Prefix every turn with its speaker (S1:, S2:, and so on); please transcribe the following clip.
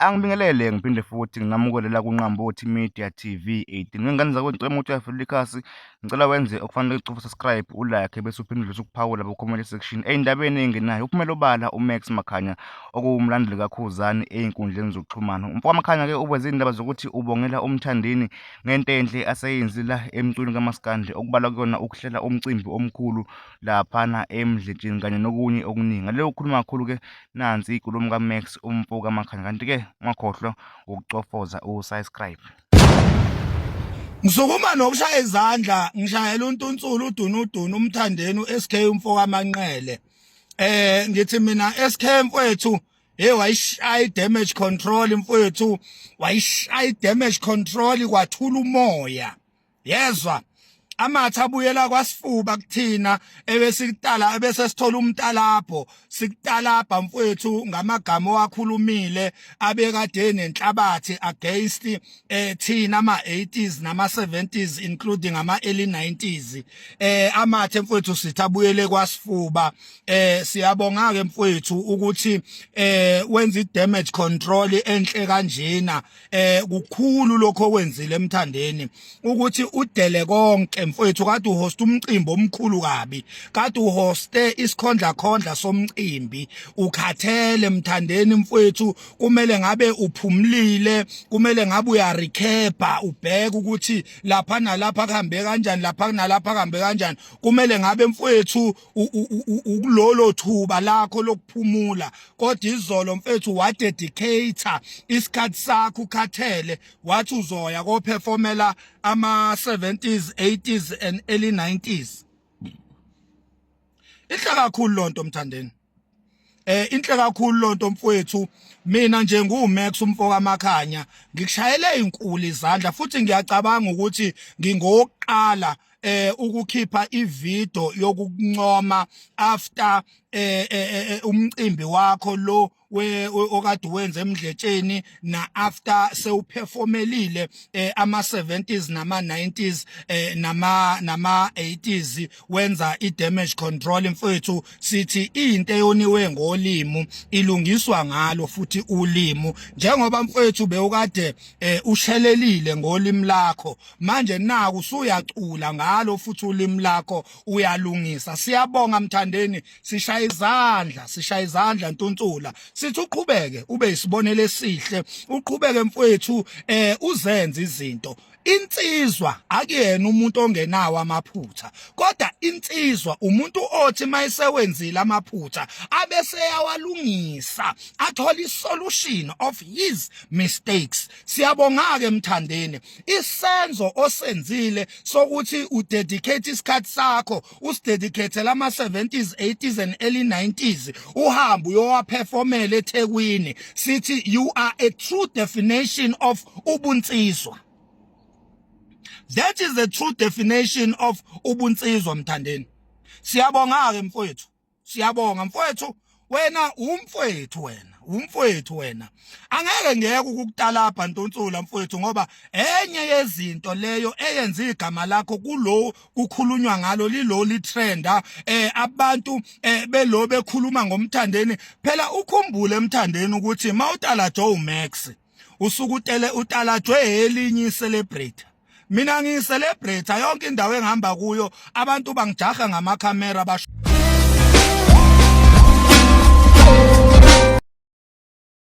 S1: Angibingelele ngiphinde futhi ngingamukele la kuNqambothi Media TV 18. Ngengane zakho ngicela ukuthi uyafela ikhasi, ngicela wenze okufanele ucofa subscribe, ulike bese uphinde udlulise ukuphawula ku comment section. Ey'ndabeni ey'ngenayo uphumela obala uMax Makhanya okuwumlandeli kaKhuzani ey'nkundleni zokuxhumana. Umfo kaMakhanya ke uveze iy'ndaba zokuthi ubongela uMthandeni ngento enhle aseyenzile emculweni kamaskandi okubalwa kuyona ukuhlela umcimbi omkhulu laphana eMdletsheni kanye nokunye okuningi. Ngale ukhuluma kakhulu ke nansi ikulumo kaMax umfo kaMakhanya kanti-ke ungakhohlwa ukucofoza usubscribe
S2: Ngisukuma nokushaya izandla ngishayela untunsulu udunudunu umthandeni uSK umfo kaManqele eh ngithi mina SK mfowethu hey wayishaya damage control mfowethu wayishaya damage control kwathula umoya yezwa amathe abuyela kwasifuba kuthina ebesikutala ebese sithola umtalapho sikutalabha mfwethu ngamagama owakhulumile abekade nenhlabathi against eh thina ama 80s nama 70s including ama early 90s eh amathe mfwethu sithi abuyele kwasifuba eh siyabonga ke mfwethu ukuthi eh wenza i damage control enhle kanjena eh kukhulu lokho okwenzile emthandeni ukuthi udele konke mfowethu kade uhost umcimbi omkhulu kabi kade uhoste isikhondla khondla somcimbi ukhathele emthandeni mfowethu kumele ngabe uphumlile kumele ngabe uya recapa ubheke ukuthi lapha nalapha kuhambe kanjani lapha kunalapha kuhambe kanjani kumele ngabe mfowethu ukulolo thuba lakho lokuphumula kodwa izolo mfethu wa dedicator isikhathi sakho ukhathele wathi uzoya ko performela ama 70s 80s and early 90s Inhla kakhulu lonto mthandeni eh inhle kakhulu lonto mfowethu mina nje nguMax umfoka Makhanya ngikushayele inkulu izandla futhi ngiyacabanga ukuthi ngingokuqala eh ukukhipha ivideo yokuncoma after eh, eh, eh, eh umcimbi wakho lo we okade wenze emdletsheni na after sewuperformelile eh, ama 70s nama 90s eh, nama nama 80s wenza i-damage control mfethu sithi into eyoniwe ngolimo ilungiswa ngalo futhi ulimo njengoba mfethu bewukade eh, ushelelile ngolimi lakho manje naku usuyacula ngalo futhi ulimi lakho uyalungisa siyabonga mthandeni sishaya izandla sishaya izandla ntunsula sithi uqhubeke ube isibonelo esihle uqhubeke mfethu eh uzenze izinto insizwa akuyena umuntu ongenawo amaphutha kodwa insizwa umuntu othi mayisewenzile amaphutha abese yawalungisa athola isolution of his mistakes siyabonga ke mthandeni isenzo osenzile sokuthi udedicate isikhathi sakho usidedicate lama 70s 80s and early 90s uhamba uyowaperformela eThekwini sithi you are a true definition of ubunsizwa that is the true definition of ubunsizwa mthandeni siyabonga ke mfowethu siyabonga mfowethu wena umfowethu wena umfowethu wena angeke ngeke ukukutalabha ntunsula mfowethu ngoba enye yezinto leyo eyenza igama lakho kulo kukhulunywa ngalo lilo litrenda eh abantu eh belo bekhuluma ngomthandeni phela ukhumbule emthandeni ukuthi mawutala Joe Max usukutele utalatshwe elinye celebrate mina ngiyi celebrate yonke indawo engihamba kuyo abantu bangijaha ngama camera basho